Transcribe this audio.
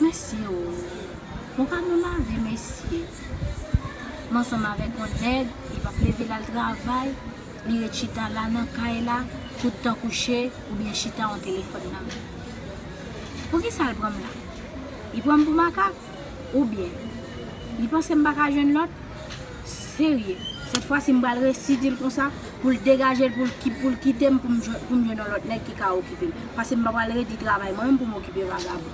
Mesi oo. Bon pa nou lavi mesye. M ansanm avek yon neg li pap leve lal travay li ret chita la nan kay la tout tan kouche oubyen chita yon telefon nan menl. Poukisa l pranm la? Li pranm pou makak? Oubyen Li panse m pa ka jwenn lòt? Serye, sèt fwa si m pral resi di l konsa pou l degaje l pou l kite m pou m jwenn yon lòt nèg ki ka okipe l. Pase m pa pral redi travay mwen menm pou m okipe vagabon.